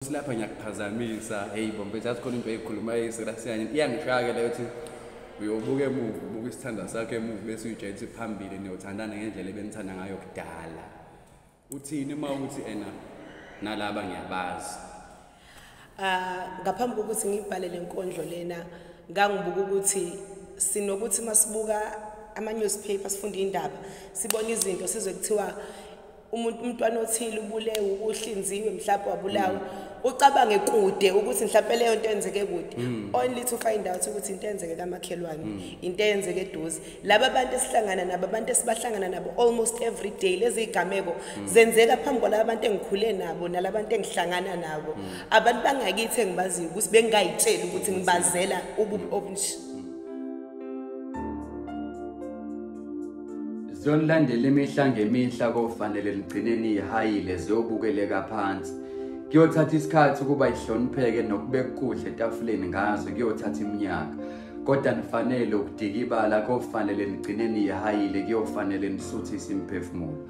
Nkosi lapha ngiyakuphazamisa heyi bo mfethu yazi khona into eyikhulumayo eyiserasiyanye iyangishaya-ke leyo ukuthi uyobuka emuva ubuka isithandwa sakho emuva bese uyitshela ukuthi phambili niyothandana ngendlela ebenithanda ngayo kudala uthini uma ukuthi ena nalaba ngiyabazi ah, ngaphambi kokuthi ngibhale le nkondlo lena ngangibuka ukuthi sinokuthi masibuka ama-newspaper sifunde iy'ndaba sibone izinto sizwe kuthiwa umuntu umntwana othile ubulewe ukuhlinziwe mhlawumbe wabulawa ucabange kude ukuthi mhlawumbe leyo nto enzeke kude mm. only to find out ukuthi into enzeke kamakhelwane mm. into enzeke eduze laba bantu esihlangana nabo abantu esibahlangana nabo almost every day lezi igameko mm. zenzeka phambi kwalaba bantu engikhule nabo nalaba bantu engihlangana nabo abantu bangakithi engibaziyo ukuthi bengayitsheli ukuthi ngibazela ububi obunje Ziyonilandela imihla ngemihla kofanele ligcine niyihayile ziyobukeleka phansi. Kuyothatha isikhathi ukuba ihlonipheke nokubeka ukudla etafuleni ngazo kuyothatha iminyaka. Kodwa nifanele ukudikibala kofanele ligcine niyihayile kuyofanele nisuthise imiphefumulo.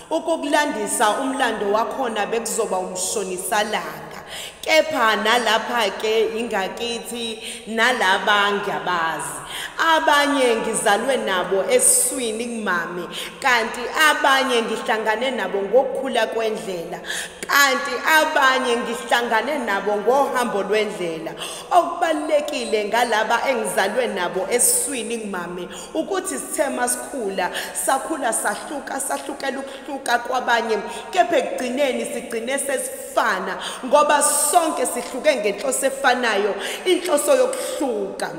Ukukulandisa umlando wakhona bekuzoba umshonisalanga, kepha nalapha-ke ingakithi nalaba ngiyabazi. Abanye ngizalwe nabo esiswini kumame, kanti abanye ngihlangane nabo ngokukhula kwendlela, kanti abanye ngihlangane nabo ngohambo lwendlela. Okubalulekile ngalaba engizalwe nabo esiswini kumame ukuthi sithe masikhula sakhula sahluka sahlukela ukuhluka kwabanye kepha ekugcineni sigcine sesifana ngoba sonke sihluke ngenhloso efanayo inhloso yokuhluka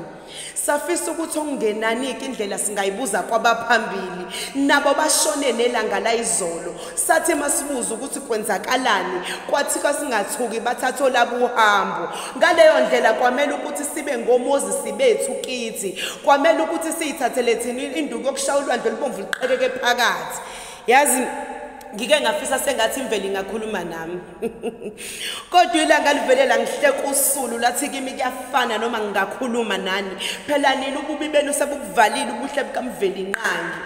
safisa ukuthi okungenaniki indlela singayibuza kwabaphambili nabo bashone nelanga layizolo Sathe masibuza ukuthi kwenzakalani kwathiwa singathuki bathathola buhambo ngaleyo ndlela kwamele ukuthi sibe ngomozisi bethu kithi kwamele ukuthi siyithathele thina induku yokushaya ulwandle olubomvu liqekeke phakathi yazi ngike ngafisa sengathi imvelo ingakhuluma nami kodwa ilanga livele langihleka usulu lathi kimi kuyafana noma ngingakhuluma nani phela nini ububi benu sebukuvalile ubuhle bukamvelinqangi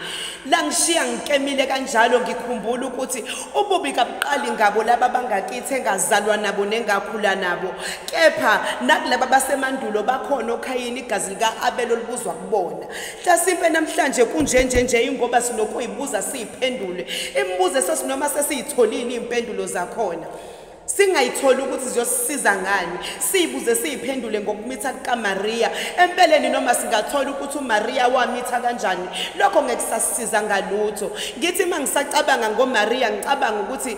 langishiya ngikemile kanjalo ngikhumbula ukuthi ububi kabuqali ngabo laba bangakithi engazalwa nabo nengakhula nabo kepha nakulaba basemandulo bakhona okhayini igazi lika-abelo libuzwa kubona Hlasimpe namhlanje kunje nje nje ingoba sinokuyibuza siyiphendule. Imibuzo esosinoma sesiyitholile impendulo zakhona. Singayitholi ukuthi ziyosisiza ngani. Siyibuze siyiphendule ngokumitha kukaMaria. Empeleni noma singathola ukuthi uMaria wamitha kanjani. Lokho ngekusasiza ngalutho. Ngithi mangisacabanga ngoMaria ngicabanga ukuthi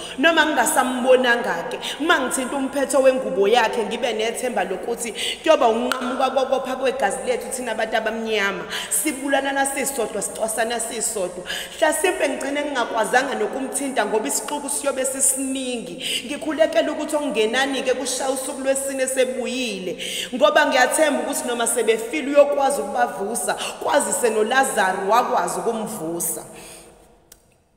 noma ngingasambonanga-ke uma ngithinta umphetho wengubo yakhe ngibe nethemba lokuthi kuyoba unqamuka kokopha kwegazi lethu thina abantu abamnyama sibulanana sisodwa sicwasana sisodwa hlasimpe ngigcine ngingakwazanga nokumthinta ngoba isixuku siyobe sisiningi ngikhulekele ukuthi okungenani-ke kushaya usuku lwesine sebuyile ngoba ngiyathemba ukuthi noma sebefile uyokwazi ukubavusa kwazise nolazaro wakwazi ukumvusa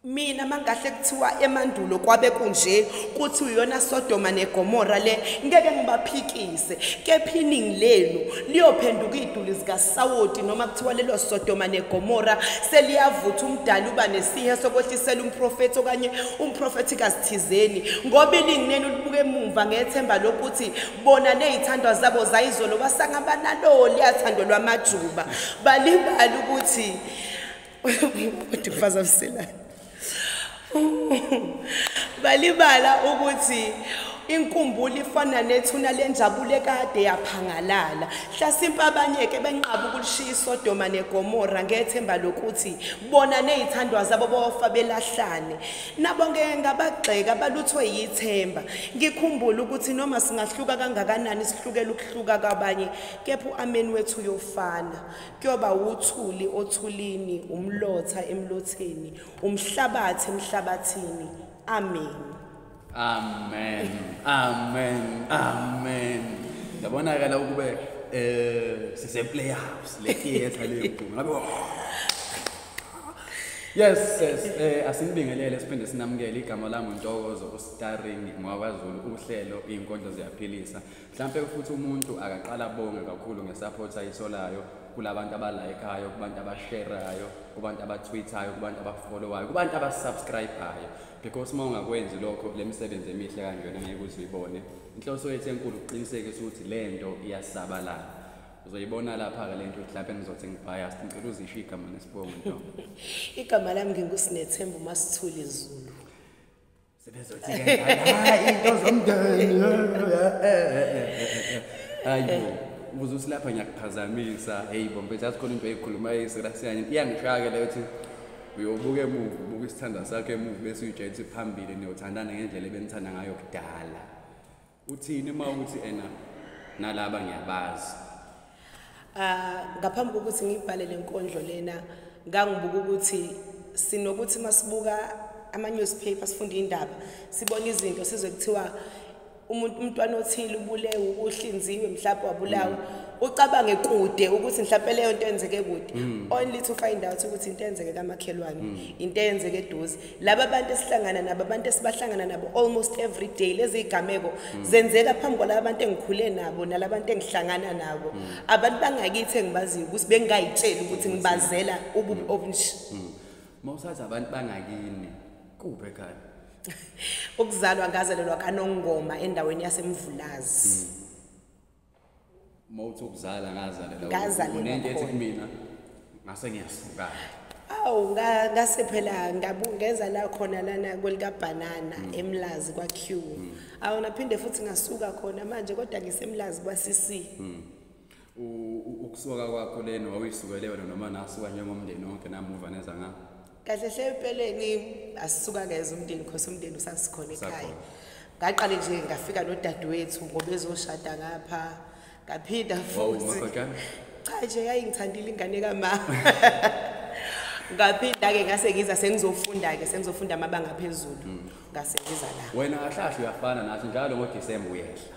Mina mangahle kuthiwa emandulo kwabe kunje kuthi uyona Sodoma neGomora le ngeke ngibaphikise kephining lenu liyophenduka iduli zika Sawoti noma kuthiwa lelo Sodoma neGomora seliyavutha umdali uba nesihe sokwehlisela umprofeti okanye umprofeti kasithizeni ngoba iningi lenu libuke emuva ngethemba lokuthi bona nezithandwa zabo zayizolo basangaba nalo liyathandwa lwamajuba balibali ukuthi udifaza msilana balibala ukuthi inkumbulo ifana nethuna lenjabulo ekade yaphangalala hlasimpe abanye-ke benqaba ukulishiya isodoma negomora ngethemba lokuthi bona nezithandwa zabo bofa belahlane nabo ngeke ngabagxeka baluthwe yithemba ngikhumbula ukuthi noma singahluka kangakanani sihlukela ukuhluka kwabanye kepha u-ameni wethu uyofana kuyoba wuthuli othulini umlotha emlotheni umhlabathi emhlabathini amen amen amen amen yabonakala ukube eh sise playhouse le theater le ngabe Yes sis eh asinibingelele siphinde sinamukele igama lami uNtokozo uStarring ngwaKwaZulu uhlelo inkondlo ziyaphilisa Mhlampe futhi umuntu akaqala bonge kakhulu ngesupport ayitholayo kulabantu abalayikayo kubantu abasherayo kubantu abatwithayo kubantu abafollowayo kubantu abasubscribayo because uma ungakwenzi lokho le misebenzi emihle kanjena ngeke uze uyibone inhloso yethu enkulu ukuqinisekisa ukuthi le nto iyasabalala uzoyibona lapha-ke le nto mhlawumpe ngizothi ngibiased ngicela uzisho igama nesibongo nto igama lami ngingusinethemba umasithuli zulu sebezothi-ke hayi into zomndeni hayi ubuze ukuthi lapha ngiyakuphazamisa heyi bombe jazi khona into eyikhulumayo isirasiyanye iyangishaya-ke leyo ukuthi uyobuka emuva ubuka isithandwa sakho emuva bese uyijayelisa phambili niyothandana ngendlela ebenithanda ngayo kudala uthini uma uthi ena nalaba ngiyabazi ah ngaphambi kokuthi ngibhale lenkondlo lena ngangibuka ukuthi sinokuthi masibuka ama newspaper sifunda indaba sibona izinto sizwe kuthiwa umuntu umntwana othile ubulewe uhlinziwe mhlawumbe wabulawa mm. ucabange kude ukuthi mhlawumbe leyo nto enzeke kude mm. only to find out ukuthi into enzeke kamakhelwane mm. into enzeke eduze laba bantu esihlangana nabo abantu esibahlangana nabo almost every day lezi igameko mm. zenzeka phambi kwalaba bantu engikhule nabo nalaba bantu engihlangana nabo mm. abantu bangakithi engibaziyo ukuthi bengayitsheli ukuthi ngibazela ububi obunje mm. mawusathi abantu bangakini kuphi ekhaya ukuzalwa ngazalelwa kanongoma endaweni yasemvulazi mm. mawuthi ukuzala ngazalela ngazalela unento ethi kumina ngase ngiyasuka awu ngase phela ngeza la khona lana kwelikabhanana mm. emlazi kwa-q mm. awu naphinde futhi ngasuka khona manje kodwa ngisemlazi kwa-cc mm. ukusuka kwakho leni wawuyisukele wena noma nasuka njengomndeni wonke namuva neza ngapho kahle hle empeleni asisuka ngeze umndeni khosi umndeni usasikhona ekhaya ngaqale nje ngafika nodadewethu ngoba ezoshada ngapha ngaphinda futhi cha nje yayingithandile ingane kamama ngaphinda-ke ngase ngiza sengizofunda-ke sengizofunda amabanga aphezulu mm. ngase ngiza la wena kahlahle uyafana nathi njalo ngodisemba uyehla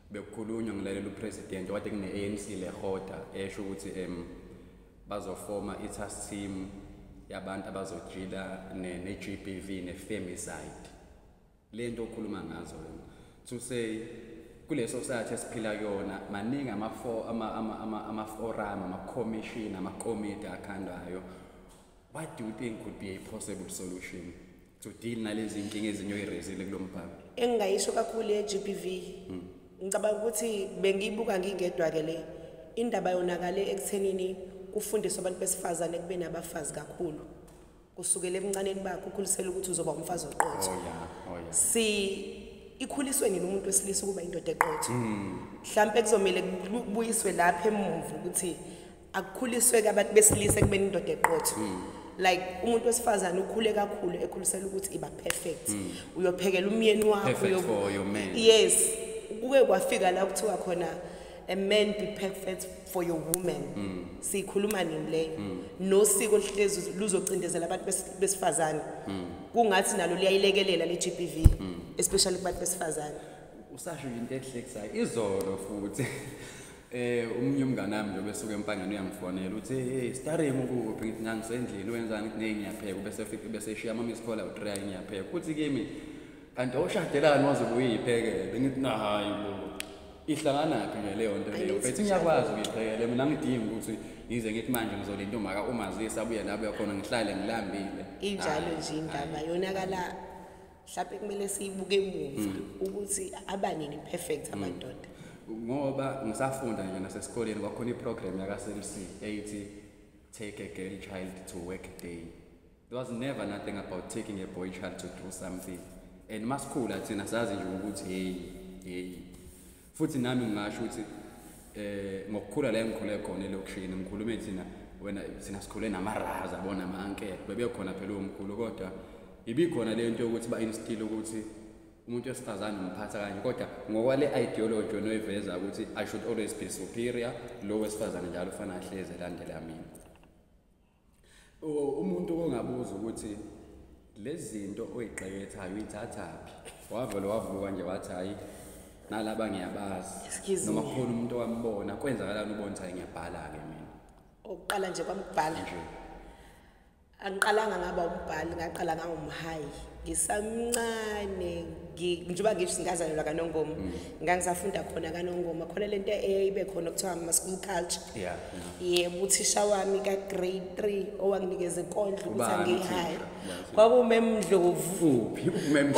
bekukhulunywa ngilalela upresident okade kune-anc lehoda esho ukuthi um bazofoma i-task team yabantu abazojila ne-g b v ne-femicide le nto okhuluma ngazo wena to say kule society esiphila kuyona maningi ama-forum ama-commission amakomiti akhandwayo what do you think could be a possible solution to deal nalezi nkinga ezinye oyirezile kulo mbhalo engingayisho kakhulu ye-gbv hmm. ngicabanga ukuthi bengiyibuka ngingedwa-ke le indaba yonakale ekuthenini kufundiswa abantu besifazane kube nabafazi kakhulu kusukela ebuncaneni bakho ukhulisela ukuthi uzoba umfazi oqotho oh, oh, si ikhuliswe nini umuntu wesilisa ukuba indoda eqotho hmm. mhlawumpe kuzomele kubuyiswe lapha emuva ukuthi akukhuliswe-ke abantu besilisa ekubeni indoda eqotho mm. like umuntu wesifazane ukhule kakhulu ekhulisela ukuthi iba perfect mm. uyophekela umyeni wakho yes kuke kwafika la kuthiwa khona a man be perfect for your woman mm. siyikhuluma nini leyo mm. nosiko oluhlezi luzocindezela abantu besifazane mm. kungathi nalo liyayilekelela le GBV mm. especially kubantu besifazane usasho into ehlekisayo izolo futhi Eh umunye umngane wami njengoba esuke empangeni uyangifonela uthi hey starring ukuphi ngithi ngangisendlini wenzani kuthi hey ngiyapheka bese fika bese eshiya ama miss call out try ngiyapheka kuthi kimi kanti oshadelani waze kuyiphekele ngithi na hayi bo ihlanganaphi nje leyo nto leyo bethi ngiyakwazi ukuyiphekela mina ngidingi ukuthi ngize ngithi manje ngizolinda umaka umazisa abuye lapho yakhona ngihlale ngilambile injalo nje indaba yonakala mhlawumbe kumele siyibuke emuva mm. ukuthi abanini perfect mm. amadoda ngoba ngisafunda nje nasesikoleni kwakhona iprogram yakaSMC eyithi take a girl child to work day there was never nothing about taking a boy child to do something and masikhula thina sazi nje ukuthi hey hey futhi nami ngingasho ukuthi eh ngokukhula la engikhule khona elokishini ngikhulume thina wena sina sikhule namaraza bona ama-ankele bebekhona phela omkhulu kodwa ibikhona le nto yokuthi ba-instile ukuthi umuntu wesifazane umphatha kanje kodwa ngokwale ideology onoyiveza ukuthi i should always be superior lo wesifazane njalo ufana ahlezi elandela mina umuntu ongabuza ukuthi lezi zinto oyigqekethayo uyithathaphi wavele wavuka nje wathi hhayi nalaba ngiyabazi noma kukhona umuntu owambona kwenzakalani ubona ukuthi hayi ngiyabhala-ke mina okuqala nje kwamubhala nje angiqalanga ngaba umbhali ngaqala ngangumhayi ngisamncane njengoba ngisho singazalelwa kanongoma mm. ngangisafunda khona kanongoma khona lento eyayibe khona kuthiwa ama-school culture yebo uthisha wami ka-grade three owanginikeza inkondlo ukuthi angiyihayi kwakumemndlovu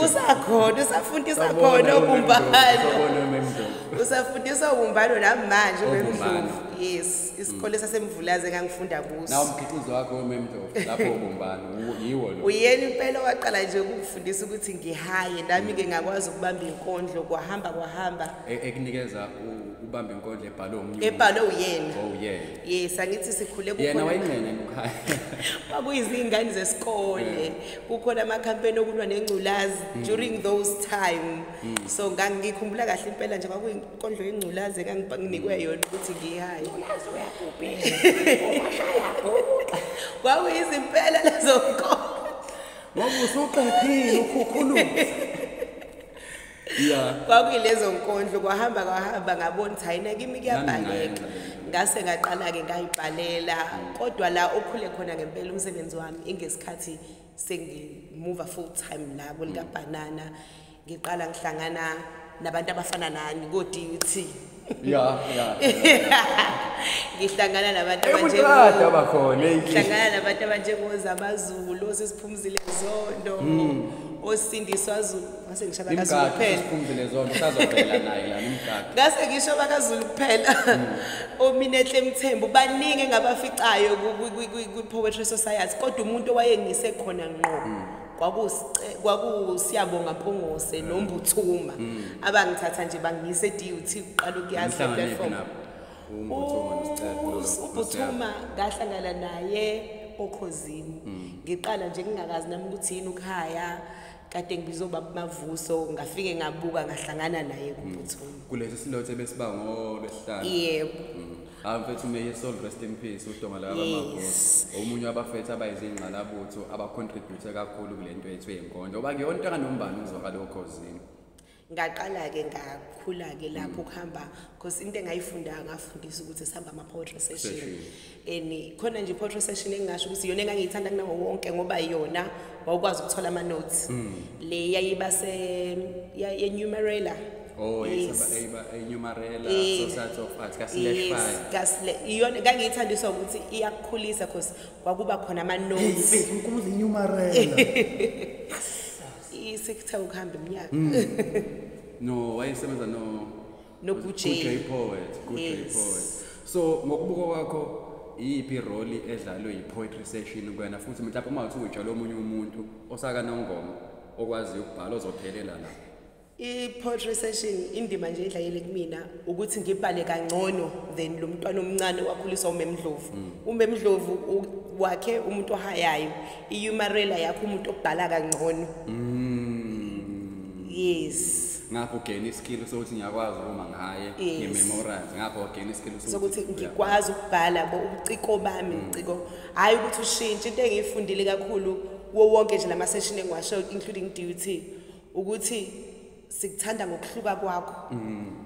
usakhona usafundisa khona obumbano usafundisa obumbano namanje umemndlovu yes isikole mm. sasemvulazi engangifunda kuso nawo umkhiqizo wakho wememdo lapho ubumbana yiwo lo uyena impela waqala nje ukungifundisa ukuthi ngihaye nami ke ngakwazi ukubamba inkondlo kwahamba kwahamba e, ekunikeza ubamba inkondlo ebhalwe umnyu ebhalwe uyena oh yeah yes angithi sikhule kukhona yena wayingcene ekhaya kwakuyizingane zesikole kukhona ama campaign okulwa nengculazi mm. during those time mm. so ngangikhumbula kahle impela nje kwakuyi inkondlo yengculazi enganginikwe yona ukuthi ngiyayo kwakuyizimpela lezo nkolo wakusuqephile ukhukhuluza ya kwakuyilezo nkondlo kwahamba kwahamba ngabona ukuthi hayi nakimi kuyabhaleka ngase ngaqala-ke ngayibhalela kodwa la okhule khona ngempela umsebenzi wami ingesikhathi sengimuva full time la kulikabhanana mm. ngiqala ngihlangana nabantu abafana nani ko-DUT ya ya ngihlangana nabantu abanjengomuntu abakhona ngihlangana nabantu abanjengoza abazulu osisiphumzile zondo hmm. osindiswa zulu ngase ngisho bakazulu kuphela siphumzile zondo sazovela naye la nomgadi ngase ngisho bakazulu kuphela hmm. ominehle mthembu baningi engabaficayo kwi-poetry society kodwa umuntu owayengisekhona ngqo hmm. kwakusiyabonga mpungose nombuthuma mm. abangithatha nje bangiyise e-dut kuqala ukuyazi platform ubuthuma ngahlangana naye okhozini mm. ngiqala nje ngingakazi nami ukuthi yini ukuhaya kade ngibizwa ubaba mavuso ngafike ngabuka ngahlangana naye kubuthuma mm. kulesi silothe besiba ngolwesihlanu yebo hayi mfethu may his soul rest in peace udonga la yes. omunye wabafethu abayizingqalabutho abacontribute kakhulu kule nto yethu yenkondlo oba kuyona into kanombani ukuzwakala okhozini ngaqala-ke ngakhula-ke lapho mm. kuhamba because into engayifundanga ngafundisa ukuthi sihamba ama-poetry session and khona nje i-poetry session engingasho ukuthi yona engangiyithanda kunawo wonke ngoba yona wawukwazi ukuthola ama notes mm. le yayiba se yenumerator Oh yes, enyumarela eh, society of arts kaSleshfire. Kasle iyona kangiyithandiswa ukuthi iyakukhulisa because kwakuba khona ama notes. Hey, unkulunkulu enyumarela. Isekuthe ukuhamba iminyaka. Mm. No, wayesebenza no no good J. Good J poet, good yes. J poet. So ngokubuka kwakho iyiphi role edlalwe yi-poetry session kwena futhi mhlawumbe uma uthi utshala omunye umuntu osakanongoma okwaziyo ukubhala ozophelela la i-poetry session indima nje edlayele kumina ukuthi ngibhale kangcono than lo mntwana omncane wakhuliswa umemdlovu mm. umemdlovu wakhe umuntu ohayayo i-humarela yakho umuntu obhala kangcono mm. yes ngakho ugain iskill sokuthi ngiyakwazi uma ngaye ngimemorize ngakho ugain iskill sokuthi ngikwazi ukubhala bo ubuciko bami mm. ubuciko hayi ukuthi ushintshe into engiyifundile kakhulu wo wonke nje lama session engiwasho including duty ukuthi sikuthanda ngokuhluka kwakho mm.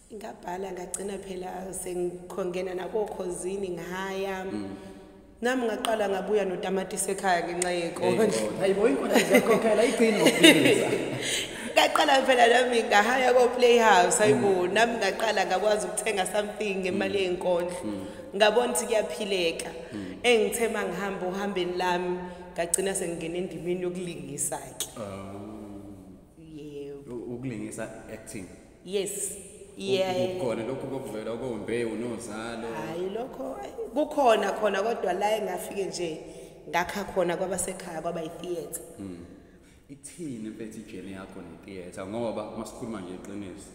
ngabhala ngagcina phela sengikhongena nakokhozini ngaya mm. nami ngaqala ngabuya notamatisi ekhaya ngenxa yenkondlo hayibo inkondlo ziyakhokhela igcino ngaqala phela nami ngahaya ko-playhouse hayibo mm. nami ngaqala ngakwazi ukuthenga something ngemali mm. yenkondlo mm. ngabona ukuthi kuyaphileka engithe uma ngihamba ohambeni lami ngagcina sengingena endimeni yokulingisa-ke oh. yebo ukulingisa acting yes ukhona lokho kokuvela okombewu nozalo hayi lokho kukhona khona kodwa la engafike nje ngakha khona kwabasekhaya kwaba itheatre hmm. ithini mfethu ijeni yakho netheatre ngoba masikhuluma nje iqiniso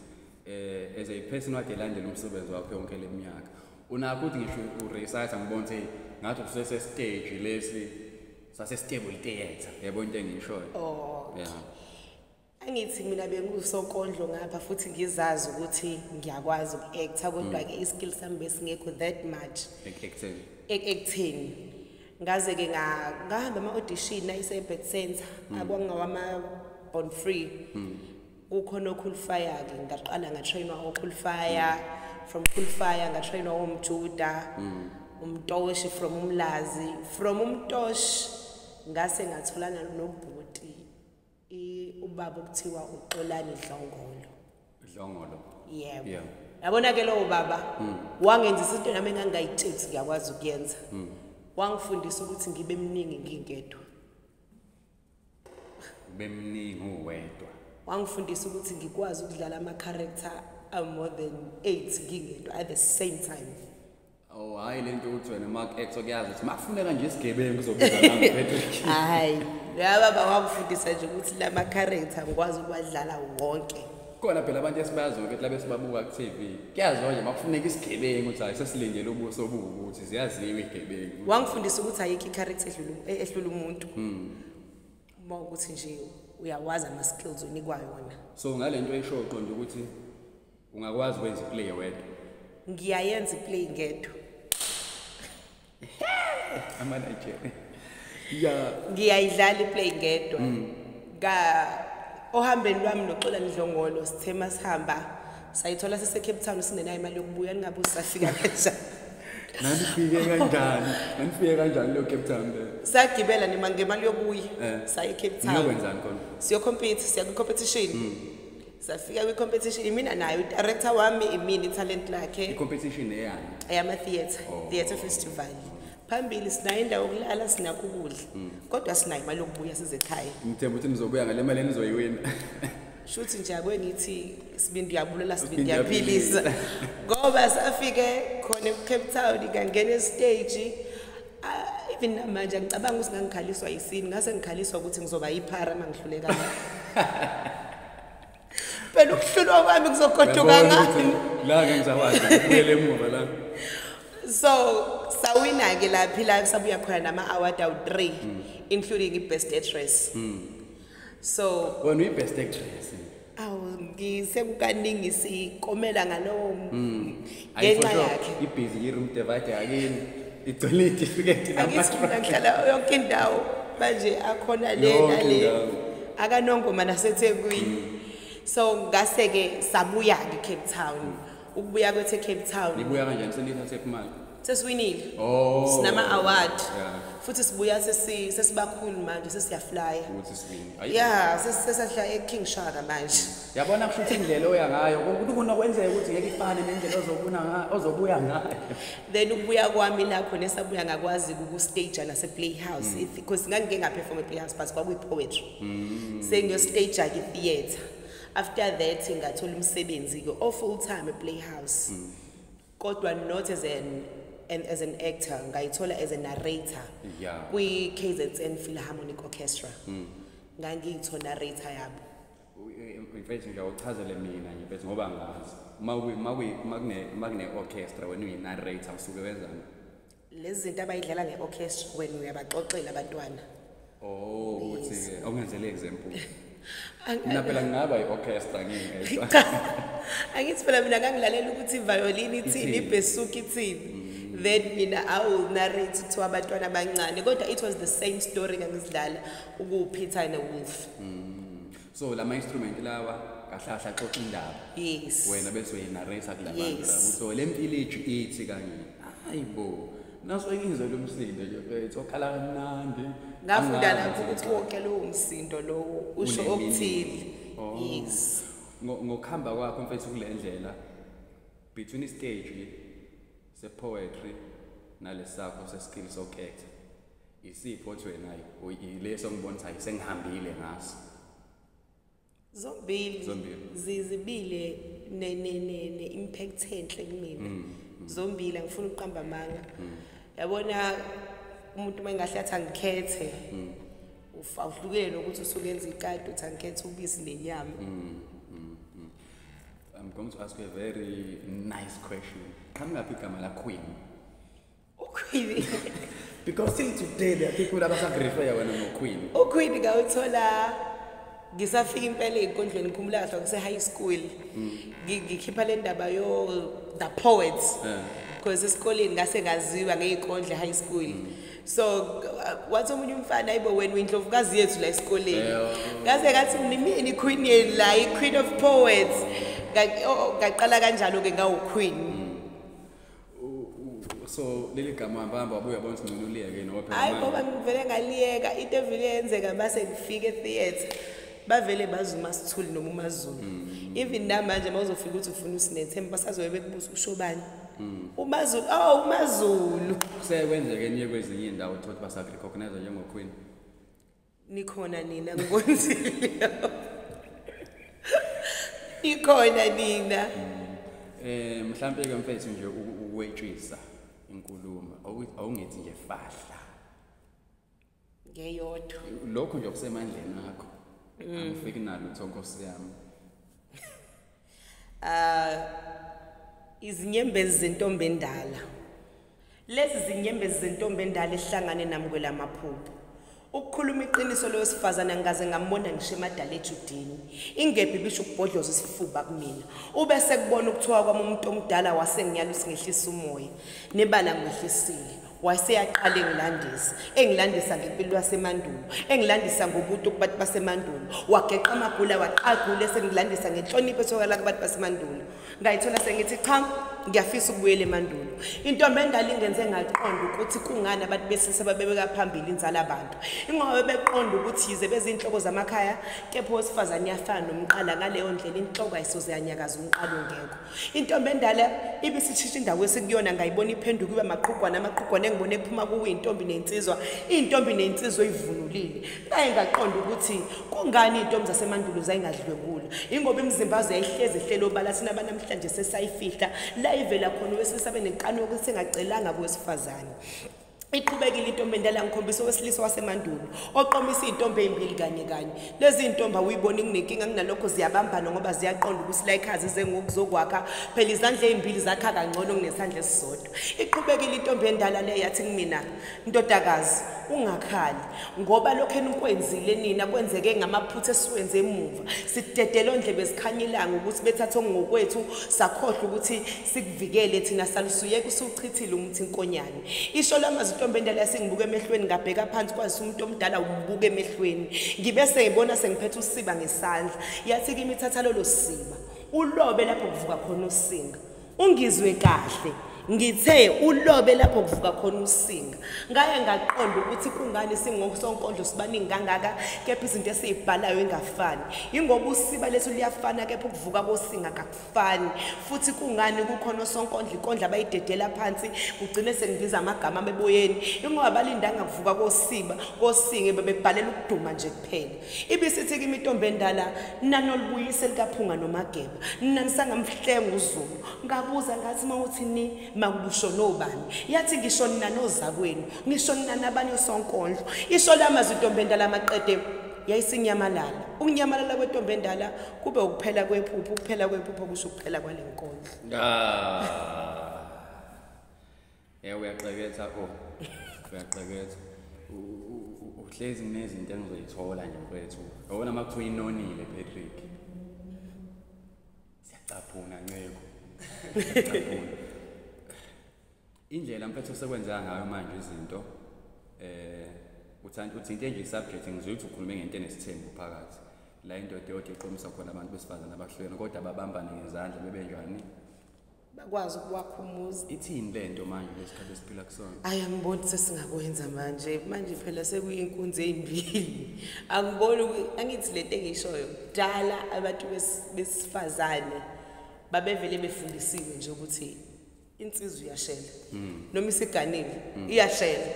eh as a person wakhe landela umsebenzi wakho yonke leminyaka unakho ukuthi ngisho uresearch ngibona ukuthi ngathi usese stage lesi sase stable iteyenza yebo into engishoyo oh yeah angithi mina bengusonkondlo ngapha futhi ngizazi ukuthi ngiyakwazi uku-acta kodwa ke mm. i-skill sami besingekho that much ekutheni ngaze-ke ngahamba ama-audition ayise-bet center mm. akwangawama-bon free mm. kukhona okhulifayake ngaqala ngatrainwa okhulifaya from khulifaya ngatrainwa womjuda mm. umtoshi from umlazi from umtoshi ngase ngatholana nobhuti ubaba okuthiwa uxolani dlongolo dlongolo yebo yeah. yabona ke lowo baba mm. wangenzisa into nami engangayithetsi ngiyakwazi ukuyenza mm. wangifundisa ukuthi ngibe mningi ngingedwa ubemningi uwedwa wangifundisa ukuthi ngikwazi ukudlala ama-character amore than eight ngingedwa at the same time Oh hayi lento uthi wena Mark X okuyazi ukuthi makufuneka nje isigebengu kuzobiza nami Patrick. Hayi. Yaba bawakufundisa nje ukuthi lama character ngikwazi ukuwadlala wonke. khona phela abantu esibaziyo ukuthi labe sibabuka ku-tv kuyaziwa nje makufuneka isigebengu ukuthi hayi sesilindele ubuso buwukuthi ziyaziwa igebengu wangifundisa ukuthi ayikho i-character eh, ehlula umuntu hmm. uma ukuthi nje uyawazi ama-skills onikwa yona so ngale nto esho uqonda ukuthi ungakwazi ukwenza iplay wedwa ngiyayenza iplay ngedwa ama Nigeria ya ngiyayidlala iplay ngedwa mm. ka ohambeni lwami noxola ndlongolo sithe masihamba sayithola sise Cape Town sinenayo imali yokubuya ningabe usafika kanjani nanifike kanjani nanifike kanjani leyo Cape Town le sagibela nima ngemali yokuya eh. saye Cape Town siyokwenzani khona siyocompete siya kwi competition mm. safika kwi-competition imina nayo udirector wami imina italent lakhe i-competition eyani eyama-theatre oh. theatre festival phambili sinayo indawo yokulala sinakho ukudla mm. kodwa sinayo imali yokubuya sizekhaya ngithemba ukuthi nizobuya ngale mali enizoyiwina shuthi nje akwe ngithi sibindi uyabulala sibindi uyaphilisa ngoba safike khona ecape town ngangena esiteji Ah, even namanje angicabanga ukuthi ngangikhaliswa yisini ngase ngikhaliswa ukuthi ngizoba yiphara uma ngihlulekanga phela ukuhlulwa kwami kuzogoduka ngani la ngengizakwazi ukubuyela emuva la so sawina-ke laphi la sabuya khona nama-award awu-three mm. including i-best actress mm. so wena uyi-best actress awu ngisekukaningi sikomela ngalowo mm. ngenxa yakhe ibhizi yi-room divide yakini igcwele itifiketi namahlala yonke indawo manje akhona le nale akanongoma nasethekwini mm. so ngase-ke sabuya-ke cape town ukubuya kwethe cape town nibuya kanjani senithathe imali sesiwinile oh. sinama award yeah. futhi sibuya sesi sesibakhulu manje sesiyaflya ukuthi siwini yeah sesasihla e King Shaka manje yabona kusho ukuthi indlela oya ngayo ukuthi kuna kwenzeka ukuthi ngeke ifane nendlela ozobuna ngayo ozobuya ngayo then ukubuya kwami la khona esabuya ngakwazi ku stage la se playhouse mm. because ngangike nga perform e playhouse but kwakuyi poetry mm. sengiyo stage ke theater after that ngathola umsebenzi ke o full time e playhouse mm. kodwa not as an and as an actor ngayithola as a narrator yeah. kwi KZN Philharmonic Orchestra mm. ngangiyitho narrator yabo mfethu nje awuchazele mina nje mfethu ngoba ngazi uma uma kune orchestra wena uyi narrator usuke wenzani lezi zinto abayidlala nge-orchestra wena uyabaxoxela abantwana oh ukuthi-ke awungenzele example mina phela ngingaba i-orchestra ngingedwa angithi phela mina ngangilalela ukuthi ivayolini ithini ibhesuka ithini mm. then mina i will narrate to abantwana abancane kodwa it was the same story ngangizidlala ukuphitha newolf mm. so lama instrument lawa kahlahla xoxa indaba yes wena bese uyinarrate kulabantu yes. so lempiliji ithi kanye hayibo naso engizwe lomsindo nje mfethu okhala kamnandi ngafunda lapho ukuthi wonke lowo msindo lowo usho okuthile oh. yes ngokuhamba kwakho mfethu kule ndlela between istage sepoetry nalesakho seskill sokhetha Isiphi othi wena yileso ngibona ukuthi sengihambile ngaso. Zombili. Zombili. Zizibile ne ne ne ne impact enhle kumina. Mm, mm. Zombili angifuni ukuqamba amanga. Mm. Yabona umuntu mengahle athi angikhethe. Ufa uhlukene ukuthi usukenza ikati uthi angikhethe ubisi nenyama. I'm going to ask you a very nice question. Qhamukaphi igama la Queen? ukhwili because till today there are people abasagrifeya wena nokhwili ukhwili ngawuthola ngisafika impela ey'nkundleni khumula kahle kuse-high school mm. ngikhipha le ndaba yo the poets because esikoleni ngase ngaziwa ngey'kondle high school mm. so uh, wathi omunye umfana ayibo wena uyindlovukazi yethu la esikoleni ngase ngathi nimini iqueen yenu la i-queen of poets ngaqala kanjalo-ke ngawuqueen mm. so leli gama hambahamba wabuya bona ukuthi ngcono uliyeke noba hayi ngoba ngivele ngaliyeka into evele yenzeka base ngifike etheatre bavele bazi umasithuli noma umazulu mm. even namanje uma uzofika ukuthi ufuna usinethemba basazobe bekubuza usho bani mm. umazulu o oh, umazulu sekwenzeke enye kwezinye iy'ndawo uthouthi basa-recognize njengoqueen nikhona nina ngikonzile nikhona nina eh mhlambe ke mfethu nje ukwetshisa inkulumo awungethi nje fahla ngeyodwa lokho nje okusemandleni akho mm. angifiki nalo utho nkosi yami uh, izinyembezi zentombi endala lezi zinyembezi zentombi endala ehlangane nami kwelamaphupho ukukhuluma iqiniso loyo sifazane ngikaze ngambona ngisho emadala ejudini ingebhi bisho ukubhodloza isifuba kumina ube sekubona ukuthiwa kwami umuntu omdala wasengiyalusi ngehlisa umoya nebala ngwehlisile waseyaqala engilandisa engilandisa ngempilo yasemandulo engilandisa ngobutu kubantu basemandulo wageqa amagula waqagula esengilandisa ngenhlonipho esokala kubantu basemandulo ngayithola sengithi cha ngiyafisa ukubuyela emandulo intombi endala ingenze ngaqonda ukuthi kungani abantu besilisa babebeka phambili inzala abantu ingoba bebeqonda ukuthi yize bezinhloko zamakhaya kepha owesifazane uyafana nomqala ngaleyo ndlela inhloko ayisoze yanyakaza umqala ongekho Intombi endala ibisithisha indawo esikuyona ngayibona iphenduka iba maqhugwana amaqhugwana engibona ephuma kuwe intombi nensizwa intombi nensizwa oyivunulile ngaye ngaqonda ukuthi kungani intombi zasemandulo zayingadlwengula ingoba imizimba yazo yayihlezi ihlele obala thina banamhlanje sesayifihla la ivela khona owesilisa benekani yokuthi engacelanga kowesifazane iqhubekile intombi endala ngikhombisa owesilisa wasemandulo oqomisa izintombi ezimbili kanye kanye lezi zintombi awuyibona inginenkinga kunalokho ziyabambana ngoba ziyaqonda ukuthi la ikhazi zengokuzokwakha phela izandla ezimbili zakha kangcono kunesandla esisodwa iqhubekile intombi endala le yathi kumina ndodakazi ungakhali ngoba lokho enikwenzile nina kwenzeke ngamaphutha esiwenze emuva sidedele ondlebe zikhanyilanga ukuthi bethathe ngokwethu sakhohlwa ukuthi sikuvikele thina salusuyeka usuchithile umuthi inkonyane isho lama zitombe endala yasengibuka emehlweni ngabheka phansi kwazisa umuntu omdala umbuka emehlweni ngibe sengibona sengiphethe usiba ngesandla yathi kimi thatha lolo siba ulobe lapho kuvuka khona usinga ungizwe kahle ngithe ulobe lapho kuvuka khona usinga ngaye ngaqonda ukuthi kungani singosonkondlo sibaningi kangaka kepha izinto esiyibhalayo ingafani yingoba usiba lethu liyafana kepha ukuvuka kosinga kakufani fani futhi kungani kukhona osonkondla ikondla bayidedela phansi kugcine sengibiza amagama ameboyeni ingoba balindanga kuvuka kosiba kosinge bebebhalela ukuduma nje kuphela ibisithi kimi intombi endala nanolubuyise likaphunga nomageba nanisangamhlenga uzulu ngabuza ngathi uma uthi ni makulusho nobani yathi ngisho nina nozakwenu ngisho nina nabanye osonkondlo isho lamazwi intombi endala maqede yayisinyamalala ukunyamalala kwentombi endala kube ukuphela kwephupho ukuphela kwephupho kusho ukuphela kwale nkondlo ah. ya uyaqeketha o oh. uyaqeketha uhlezi kunezinto engizoyithola nje mfethu yabona uma kuthiwa inonile patrick siyacaphuna nceko siyacaphuna Indlela mfethu osekwenzeka ngayo manje izinto eh uthanda uthinte nje subject ngizwe ukuthi ukhulume ngento enesithembu phakathi la indoda eyothi iqomisa khona abantu besifazane abahlukene kodwa babambane ngezandla bebe njani bakwazi ukuwakha umuzi ithini le nto manje lesikhathi esiphila kusona ayi angiboni sesingakwenza manje manje phela sekuyinkunzi ezimbili angiboni angithi le nto engishoyo kudala abantu besifazane babevele befundisiwe nje ukuthi insizwa iyashela mm. noma isiganile mm. iyashela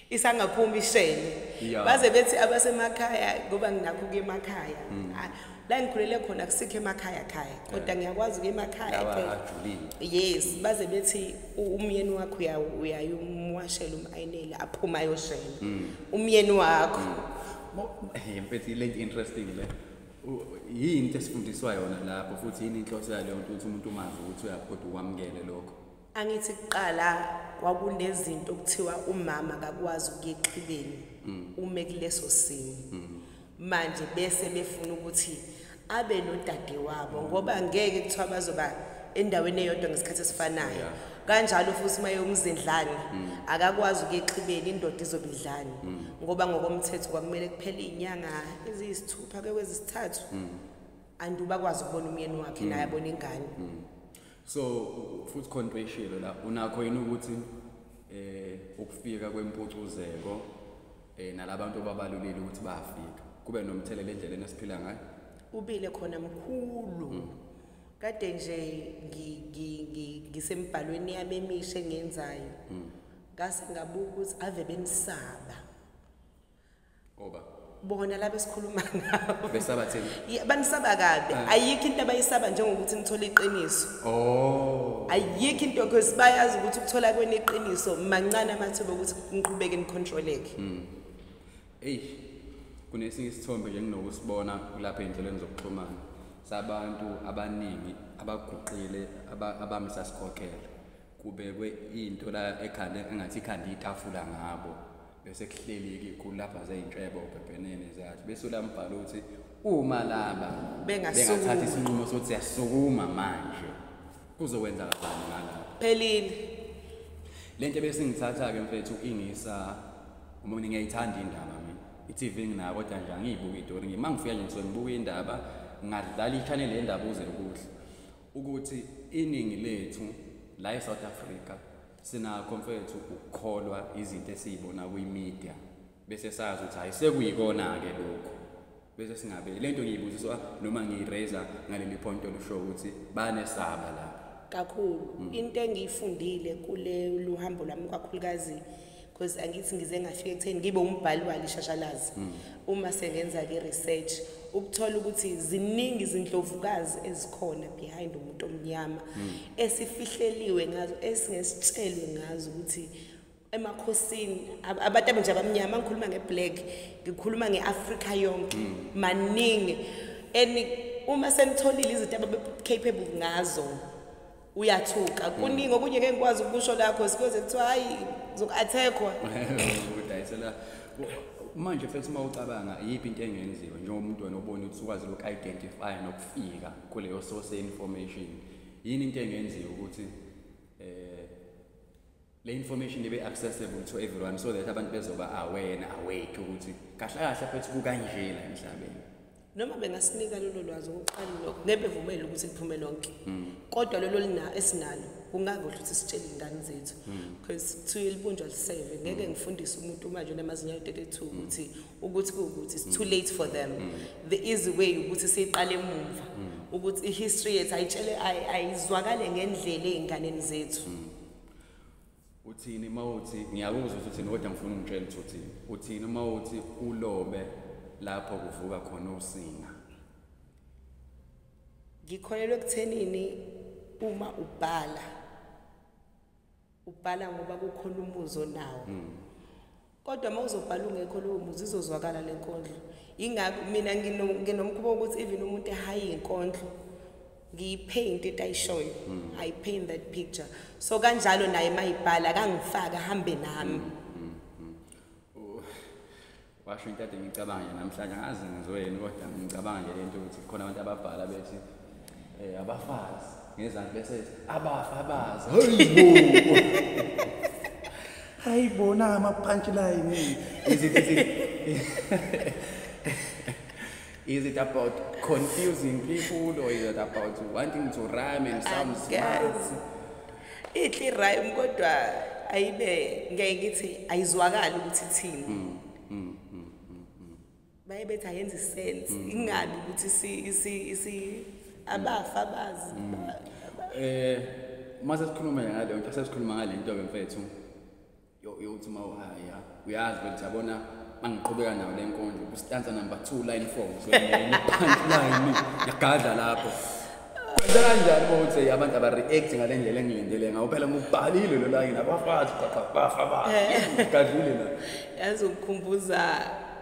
isangaphumi ishele yeah. baze bethi abasemakhaya ngoba nginakho kuye emakhaya mm. Ah, la ngikhulele khona kusikho emakhaya khaya kodwa yeah. ngiyakwazi kuye emakhaya yes mm. baze bethi umyeni wakho uyayumwashela umayinela aphuma ayoshela mm. umyeni wakho mm. hey, mfethu le interesting le yini into esifundiswa yona lapho futhi yini inhloso yaleyo nto ukuthi umuntu umazi ukuthi uyaphoda ukwamukele lokho angithi kuqala kwakunezinto okuthiwa umama akakwazi ukuyeqhibeni mm. ume kuleso simo mm. manje bese befuna ukuthi abe nodade wabo ngoba ngeke kuthiwa bazoba endaweni eyodwa ngesikhathi esifanayo kanjalo futhi uma yomzindlane mm. akakwazi ukuyexhibeni indoda izobidlane mm. ngoba ngokomthetho kwakumele kuphele inyanga sithupha ke kwezisithathu mm. and ubakwazi ukubona umyeni wakhe naye abona ingane so futhi khona into eshilo la unakho yini ukuthi eh ukufika kwempucuzeko eh nalabantu ababalulile ukuthi bafika kube nomthelela endleleni esiphila ngayo ubile khona mkhulu mm. kade nje ngisembhalweni yami emisha engenzayo mm. ngase ngabuka ukuthi ave benisaba Oba. Bona laba esikhuluma ngabo. Besaba thini? Yeah, banisaba kabi. Uh. Ayikho into abayisaba njengokuthi nithola iqiniso. Oh. Ayikho into because bayazi ukuthi ukuthola kwenu iqiniso mancane amathuba ukuthi niqhubeke nicontroleke. Mm. Ey. Kunesinye isithombe nje nginokusibona kulapha endleleni zokuxhumana. Sabantu abaningi abaguqile abamisa sikhokhela. Kubekwe into la ekhanda engathi ikhanda itafula ngabo. bese kuhleli-ke kulapha zey'ntshebo ubhebhenene zathi bese ulambhala ukuthi uma laba bengathatha isinqumo sokuthi siyasukuma manje kuzokwenzakazani ngalapho phelile le nto ebesingithatha-ke mfethu ingisa uma mina ngiyayithanda indaba mina i-tv nginayo kodwa nje angiyibuki itori ngima ngifika nje ngisuke ngibuka indaba ngadlala i-channel yendaba uze kuhle ukuthi iningi lethu la e-south africa Sinakho mfethu ukukholwa izinto esiyibona kwimedia bese sazi ukuthi hayi sekuyikona-ke lokhu bese singabe le nto ngiyibuziswa noma ngiyiraiser ngaleli point olusho ukuthi banesaba la kakhulu mm. into engiyifundile kule luhambo lwami kakhulukazi because angithi ngize ngafika ekutheni ngibe umbhali walo ishashalazi mm. uma sengenza ke research ukuthola ukuthi ziningi izindlovukazi ezikhona behind umuntu omnyama mm. esifihleliwe ngazo esingesitshelwe ngazo ukuthi emakhosini abantu abenje abamnyama ngikhuluma ngeblack ngikhuluma ngeafrika yonke mm. maningi and uma senitholile izinto ababe capable ngazo uyathuka kuningi okunye ngeke ngikwazi ukusho la cause kuyoze kuthiwa hayi zoku-attackwa udayisela manje mfethu uma ucabanga iyiphi into engenziwa njengomuntu wena obona ukuthi ukwazi loku-identify nokufika kuleyo source information yini into engenziwa ukuthi um le information ibe accessible to everyone so that abantu bezoba aware and awake ukuthi kahle kahle phethu kukanjena emhlabeni noma bengasinika lolo lwazi okokuqala lokho ngeke vumele ukuthi kuphume lonke hmm. kodwa lolo lina esinalo kungakuhle ukuthi sitshele ingane zethu hmm. because to ilibunjwa liseve ngeke hmm. ngifundise umuntu manje onamazinyo 32 ukuthi ukuthi ukuthi it's too late for them the easy way ukuthi siqale emumva ukuthi i history yethu ayitshele ayizwakale ngendlela ezinganeni zethu uthini uma uthi ngiyakuzwa ukuthi uthini kodwa ngifuna ungitshela ukuthi uthini uthini uma uthi ulobe lapho kuvuka khona usinga ngikholelwa ekuthenini uma ubhala ubhala ngoba kukhona umuzi onawo mm. kodwa uma uzobhala ungekho lowo muzi izozwakala le nkondlo yingakho mina nginomkhuba wokuthi even umuntu ehayi inkondlo ngiyipaint into ayishoyo hmm. i paint that picture so kanjalo naye mayibhala kangifaka hambe nami hmm, hmm, washo into ade ngicabanga namhlanje angazi ngizoyeni kodwa ngicabanga nje lento ukuthi khona abantu ababhala bethi Eh abafazi ngezansi bese abafa abazi. Hayibo. Hayibo na ama punchline. Is it is it Is it about confusing people or is it about wanting to rhyme and sound smart? Ithi rhyme kodwa ayibe ngeke ngithi ayizwakali ukuthi thini. Mm. baye bethi ayenzi sense mm. ingabi ukuthi si si si abafa bazi mm. eh mase sikhuluma ngale nto sesikhuluma ngale nto ke mfethu yo yokuthi ma uhaya uyazi ukuthi yabona mangiqhubeka nayo le nkonzo kustanza number 2 line 4 so punchline yagadla lapho kwenza kanjani ukuthi abantu aba react ngale ndlela engilindele ngawo phela ngubhalile lo line abafazi qaqafa bafa bafa eh. gadlile la yazi ukukhumbuza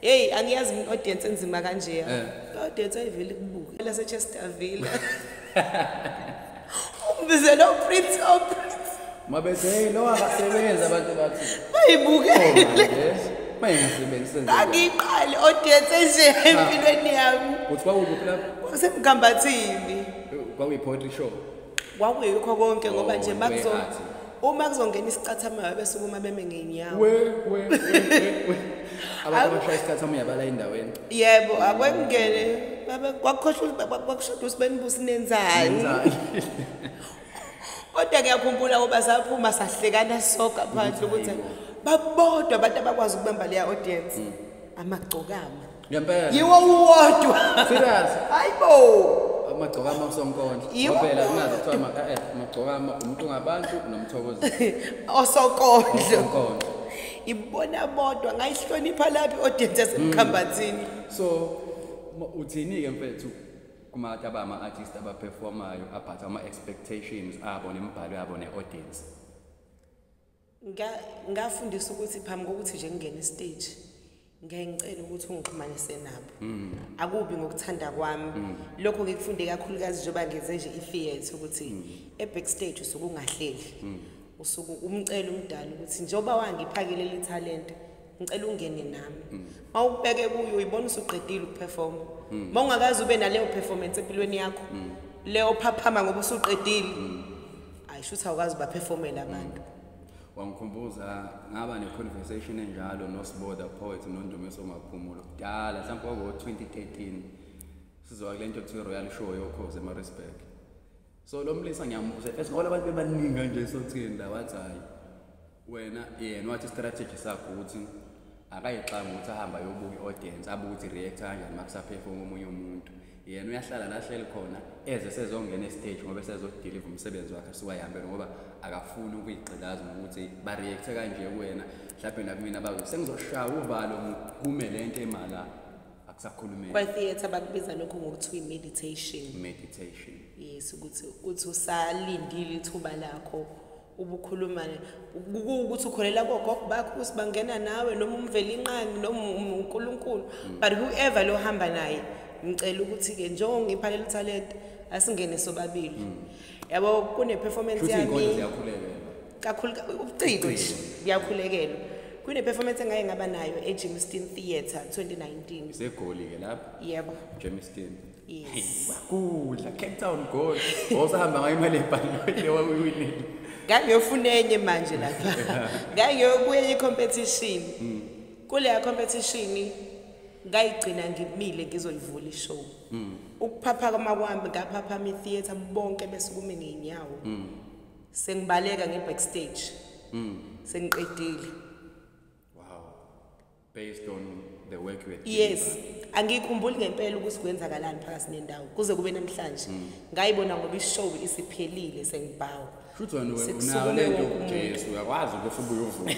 Hey angiyazi mina audience enzima kanje. Eh. Audience ayiveli kubuka la se Chesterville. Ubize lo Prince of Prince. Mabethe hey lo akasebenzi abantu bathi. Bayibukele. Oh, Mayengasebenzi senze. Angiqali audience nje ah. empilweni yami. Uthi kwakuphi lapho? Kwasemgambathini. Kwakuyiphoetry show. Kwakuyikho konke ngoba oh, nje makuzo uma kuzongena isicathamayo abesukuma beme ngenyawo we we we abashaya isicathamayo yabala endaweni yebo akwengene baba kwakhohlwa kwakushoda usibenibusi nenzani kodwa ngiyakhumbula uba saphuma sahlekana soka phandle ukuthi babodwa abantu abakwazi ukubamba leya audience mm. amagcokama ngempela yiwo uwodwa serious hayibo amagcokama kusonkondla phela kungazi kuthiwa maka eh amagcokama umuntu ngabantu nomthokozi osokondla osokondla ibona bodwa ngayihlonipha laphi audience esemkhambathini mm. so uthini ke mfethu kumata abama artist abaperformayo abhatha ama expectations abo nemibhalo yabo ne audience ngafundisa ukuthi phambi kokuthi nje ngingene istage ngeke ngicela ukuthi ungixhumanise nabo mm. akubi ngokuthanda kwami mm. lokho ngikufunde kakhulukazi njengoba ngenze nje i-theatre ukuthi mm. e-backstage usuke ungahleli usuke umcela umdala ukuthi njengoba wangiphakele le talente ngicela ungene nami mm. uma ukubeke kuyo uyibona usuqedile ukuperforma mm. uma ungakazi ube naleyo performance empilweni yakho mm. le ophaphama ngoba usuqedile ayi shuthi awukazi ubaperformela abantu wangikhumbuza ngaba ne-conversation enjalo nosiboda poet nondumiso maphumulo kudala mhlawumpe kwakuwo-2013 sizowa kule nto kuthiwa royal show yokhozi emarisburg so lo mlisa ngiyambuza esingola abantu bebaningi kanje sothini la wathi hhayi wena yena wathi strategy sakho ukuthi akayixanga ukuthi ahambe ayobuka i-audience abuke ukuthi react kanjani uma kusaphefoma omunye umuntu yena uyahlala la hleli khona eze sezongena estage ngoba esezodeliva umsebenzi wakhe siwayihambele ngoba akafuni ukuyigqilaza ngokuthi bareact-e kanje kuwena mhlawumbe nakumina bazo sengizoshaya uvalo ngiphume le nto emala akusakhulumeki kwa-theatre bakubiza lokho ngokuthi uyi-meditation meditation yes ukuthi uthi usalindile ithuba lakho ubukhuluma ukuthi ukholela kogogo bakho ukuthi bangena nawe noma umvelinqangi noma unkulunkulu mm. but whoever lohamba naye ngicela ukuthi-ke njengoba ngipha leli talente asingene sobabili mm. yabo kune-performance yami kakhulu ubuciko nje kuyakhulekelwa kune-performance engaye ngaba nayo ejamestown theatre 2019 segoli-ke lapho yebo jamestown Yes. Kudla Cape Town goal. Osahamba ngayo imali ebhange lewa uyiwinile. Ngangiyofuna enye manje lapha. Ngangiyobuya i-competition. Mm. Kuleya competition ngayigcina ngimile ngizolivula ishow. Mm. Ukuphapha kwami kwami ngaphapha mi theater bonke besukume ngeenyawo. Mm. Sengibaleka ngebackstage. Mm. Sengiqedile. based on the work you had yes angikhumbuli ngempela ukuthi kwenzakalani phakathi nendawo kuze kube namhlanje mm. ngayibona ngoba ishow isiphelile sengibhawa futhi wena unayo lento uJesu uyakwazi ukuthi ubuyovuka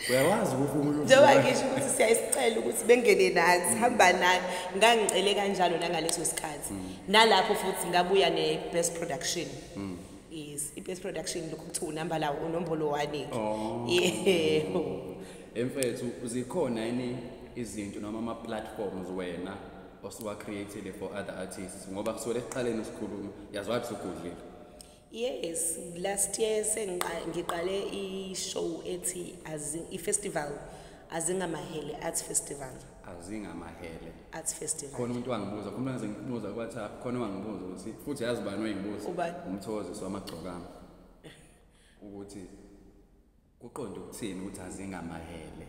uyakwazi ukuthi umuntu njengoba ngisho ukuthi siyayisicela ukuthi bengene nathi hamba nathi ngangicele kanjalo nangaleso sikhathi mm. nalapho futhi ngabuya ne-best production mm. Yes, iBest Production lokhu kuthi unamba lawo unombolo wani. Oh. Yebo. Emfethu zikhona yini izinto noma ama platforms wena osuwa created for other artists ngoba kusole eqaleni sikhuluma yazwa ukuthi ugudlile. Yes, last year sengiqale ngiqale i show ethi as i festival azingamahele arts festival. azingamahele arts festival khona umuntu wangibuza khona umuntu ngibuza ku WhatsApp khona wangibuza ukuthi futhi yazi bani oyengibuza umthokozisi wamagcokama ukuthi kuqonde ukuthini ukuthi azingamahele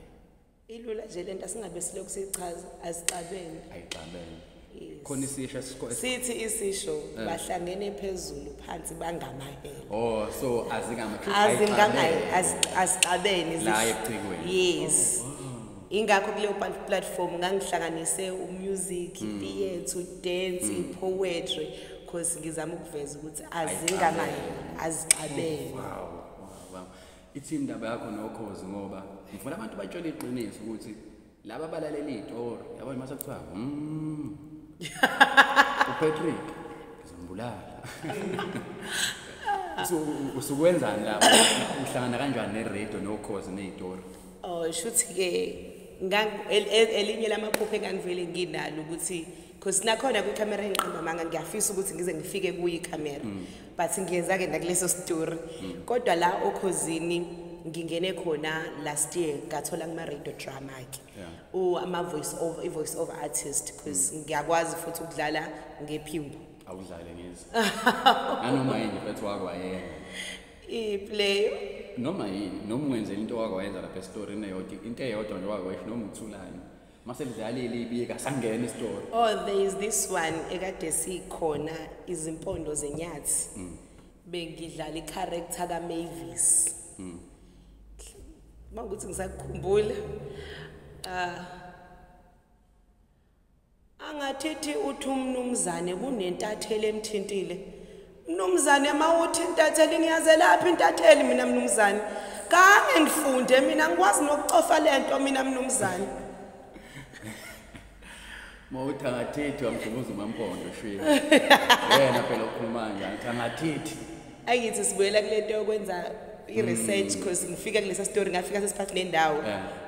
ilula nje lento asingabe silokhu sichaza azixabene ayixabene khona isisho esikho sithi isisho eh. bahlangene phezulu phansi bangamahele oh so azingama azingamahele asixabene la ecikweni yes oh, ingakho kuleyo platform ngangihlanganise umusic hmm. theatre dance hmm. poetry because ngizama ukuveza ukuthi azingamahele azixabene oh, wow wow ithi indaba yakho nokhozi ngoba ngifuna abantu batshele iqiniso ukuthi laba balalela iyitori yabo mase kuthiwa mm. upatrick ngizombulala usukwenzani lapho uhlangana kanjani neradio nokhozi neyitori um oh, shuthi-ke elinye lamaphupho engangivele nginalo ukuthi because nakhona kwikhamera engiqamba amanga ngiyafisa ukuthi ngize ngifike kuyo ikhamera mm. but ngiyenza-ke nakuleso story mm. kodwa la okhozini ngingene khona last year ngathola kuma-radio drama-ke yeah. ama-voice over i-voice over artist because mm. ngiyakwazi futhi ukudlala ngephimbo awudlale ngizi nanoma yini mfethu wakho ayena iplayo noma yini noma ungenzela into wakho wayenza lapha esitorini eyodwa into eyodwa nje wakho noma uthulani masekudlalile ibika sangena isitori oh there is this one ekade sikhona izimpondo zenyathi mm. bengidlala icharacter kamavis mm. uma ukuthi ngisakukhumbula um ah. angathithi uthi umnumzane kunentathelo emthintile Mnumzane mawuthi intatheli ngiyazelaphi intatheli mina mnumzane. Kange ngifunde mina ngikwazi nokucofa lento mina mnumzane. Mawuthangathithi wamdubuza umampondo shwini. Yena phela ukhuluma nje ngithangathithi. Ayithi sibuyela kulento yokwenza i-research mm. because ngifika kulesa story ngafika sesiphathi nendawo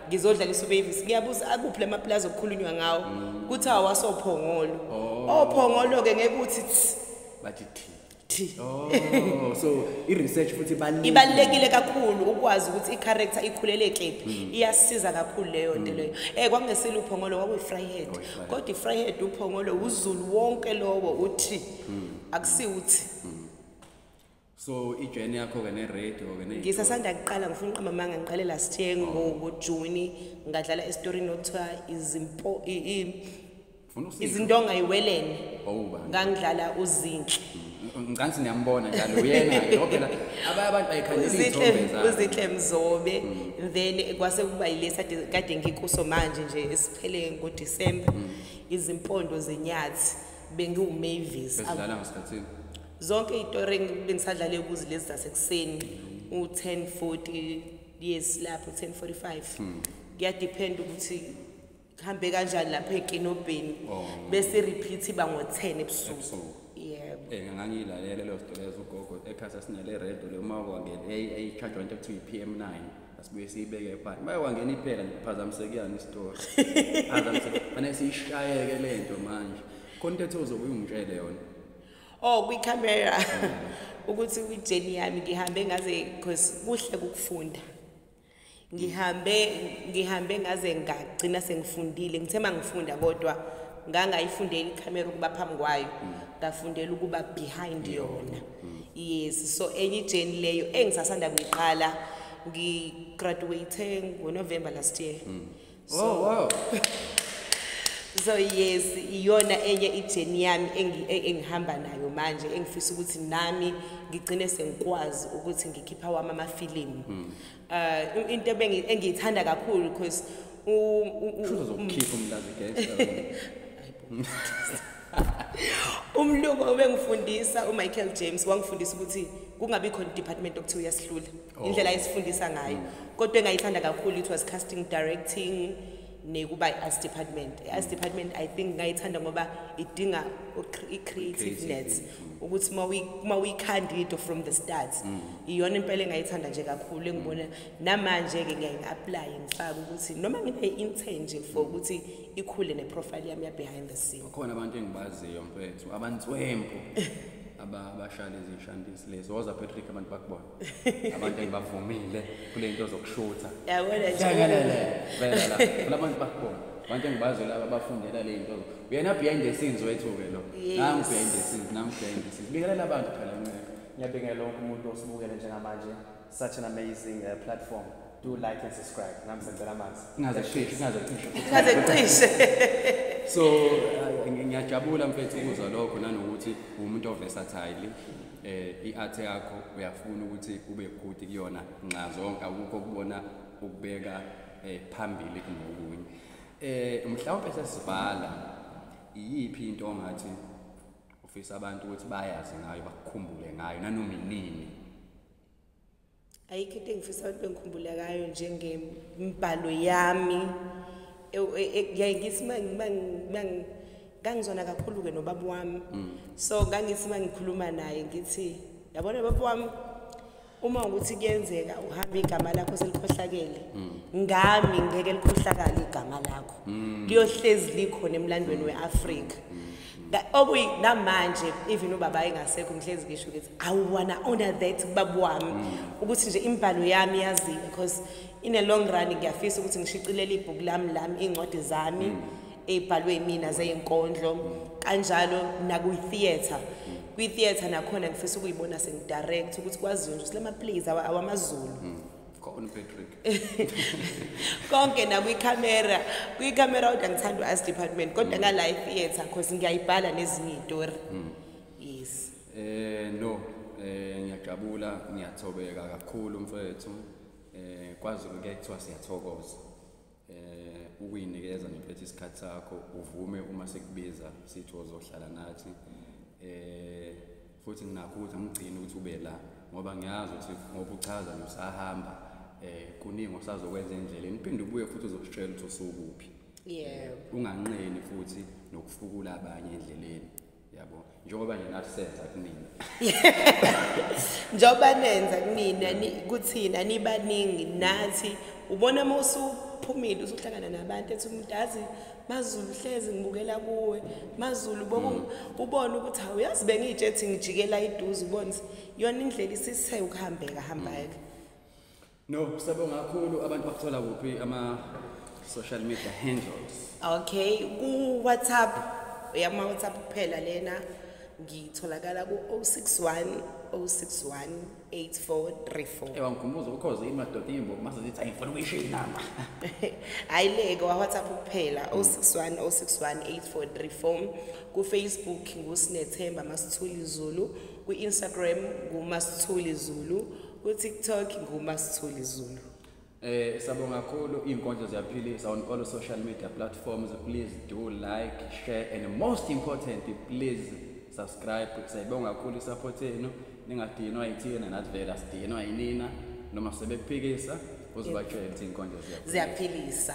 ngizodlala isubavis ngiyabuza akuphi lamaplazi okukhulunywa ngawo mm. kuthi awasophongolo oh. ophongolo-ke ngeke uthi bathi thi thi oh so i research futhi ibalulekile ibalekile kakhulu ukwazi ukuthi i character ikhulele kephi hmm. iyasiza kakhulu leyo nto hmm. leyo eh kwangesile uphongolo kwakuyi fry head oh, kodwa i fry head uphongolo uzulu wonke lowo uthi hmm. akusi uthi so ijeni yakho ke ne-radio ke ngisasanda kuqala ngifuna uqamba amanga ngiqale last year ngojuni ngadlala esitorini okuthiwa izimpo izinto ongayiwelene ngangidlala uzinhle mm, ngicansi niyambona njalo uyena ngophela abanye abantu bayikhanelizithe mzobe mm. then kwase kuba yilesi kade ngikuso manje nje esiphele ngodisemba mm. izimpondo zenyathi bengiwumavis zonke iy'tori bengisadlale kuzi lezi zasekuseni u-ten forty yes lapho u-ten forty five hmm. kuyadiphenda ukuthi kuhambe kanjani lapha ekinobheni oh. bese repeat iba ngo-ten ebusuku yebo eh, ngangiyilalele leyo story yazugogo ekhasa sinale redo le uma kwangena eyicharge into ekuthiwa i-p m nine asibuye siyibeke ebhani uma kwangena iphela ngiphazamisekuyani isitori phazamiseke fanele siyishayeke le nto manje khona into ethe uzobe uyungitshele yona oh kwicamera ukuthi kwijeni yami ngihambe ngaze because kuhle kukufunda ngihambe ngihambe ngaze ngagcina sengifundile ngithe uma ngifunda kodwa ngangayifundela ikhamera ukuba phambi kwayo ngafundela ukuba behind yona yes so enye ijeni leyo engisasanda kuyiqala ngigraduate ngonovember last year mm. so, oh, wow. so yes iyona enye ijeni yami e, engihamba nayo manje engifisa ukuthi nami ngigcine sengikwazi ukuthi ngikhipha wami amafilimu hmm. uh, into engiyithanda kakhulu because umlungu obengifundisa umichael james wangifundisa ukuthi kungabi khona idepartment okuthiwa uyasihlula indlela esifundisa ngayo kodwa engayithanda kakhulu it was casting directing nekuba i-arts department i-arts department i think ngayithanda ngoba idinga i-creativeness ukuthi uma uyikhanda into from the start mm. iyona impela engayithanda nje kakhulu engibona namanje-ke ngiyaye ngi-aplaye ngifake ukuthi noma ngibe i-intern nje for mm. ukuthi ikhule neprofile yami ya-behind the scene khona abantu engibaziyo mfethu abantswempu abashale izishandisi lezo woza patrick abantu bakubona abantu engibavumile kule nto zokushutha yakwelekelele vela funa abantu bakubona abantu engibazi laba abafundela le nto uyena behind the scenes wethu-ke lo nangu behind the scenes nangu behind the scenes bikelela abantu phela nceka ngiyabingelela lonke umuntu osibukele njengamanje such an amazing uh, platform do like and subscribe nami sengicela amanzi ingaze cishe ingaze cishe ingaze cishe so uh, ngiyajabula mfethu ukuzwa lokho nanokuthi umuntu oversatile eh iart yakho uyafuna ukuthi ube good kuyona nxa zonke akukho kubona ukubeka eh phambili kunokunye eh mhlawumbe sesibhala iyiphi into ongathi ufisa abantu ukuthi bayazi ngayo bakukhumbule ngayo nanoma inini ayikho into engifisa abantu bengikhumbula kayo njengembhalo yami e, e, e, ngithi ngangizwana kakhulu-ke nobaba wami mm. so ngangithi uma ngikhuluma naye ngithi yabona baba wami uma ukuthi kuyenzeka uhamba igama lakho selikhohlakele mm. ngami ngeke likhohlakale igama lakho mm. liyohlezi likhona emlandweni we-afrika okuyi namanje even ubaba engasekho ngihlezi ngisho ukuthi i wanna honor that baba wami mm. ukuthi nje imbhalo yami yaziwe because in a long run ngiyafisa ukuthi ngishicilele ibhuku lami lami iy'ncwadi zami mm. ey'bhalwe yimina zeyinkondlo mm. kanjalo nakwi-theatre kwi-theatre nakhona ngifisa ukuyibona sengidirect ukuthi kwaziwe nje ukuthi la maplays awamazulu khona uPatrick konke nakwikhamera kwikhamera kodwa ngithanda u-as department kodwa ka live theatre because ngiyayibhala nezinye iy'tori hmm. yes eh no eh ngiyajabula ngiyathobeka kakhulu mfethu eh kwazi ukuthi kuthiwa siyathokoza eh ukuyinikeza ngiphethe isikhathi sakho uvume uma sekubiza sithi uzohlala nathi eh futhi nginakho ukuthi angigcini ukuthi ube la ngoba ngiyazi ukuthi ngoba uchaza nje usahamba eh kuningi osazokwenza endleleni uphinde ubuye futhi uzositshela ukuthi usukuphi yebo unganqeni futhi nokufukula abanye endleleni yabo njengoba nina senza kunina njengoba nenza kunina kuthina nibaningi nathi ubona uma usuphumile usuhlangana nabantu ethi umuntu azi mazulu hlezi ngibukela kuwe mazulu boku mm. ubona ukuthi hawu yazi bengiyitshe ethi ngijikela iduze ubone yona indlela isise ukuhambeka hambeke mm. No, siyabonga kakhulu abantu bakuthola kuphi ama social media handles. Okay, ku WhatsApp uyama WhatsApp kuphela lena ngitholakala ku 061 061 8434. Ewa ngikhumbuza ukhoze imadoda imbo mase zithi ayifuna ukuyisho inamba. Hayi leke wa WhatsApp kuphela 061 061 8434 ku Facebook ngusinethemba masithuli Zulu ku Instagram ngumasithuli Zulu Ku TikTok nguma Sithuli Zulu. Eh sabonga kakhulu izinkonzo ziyaphilisa on all social media platforms please do like share and most important please subscribe sayibonga kakhulu support yenu ningadinwa yithina nathi vele asidinwa yinina noma sebekuphikisa uzibatshela ukuthi inkonzo ziyaphilisa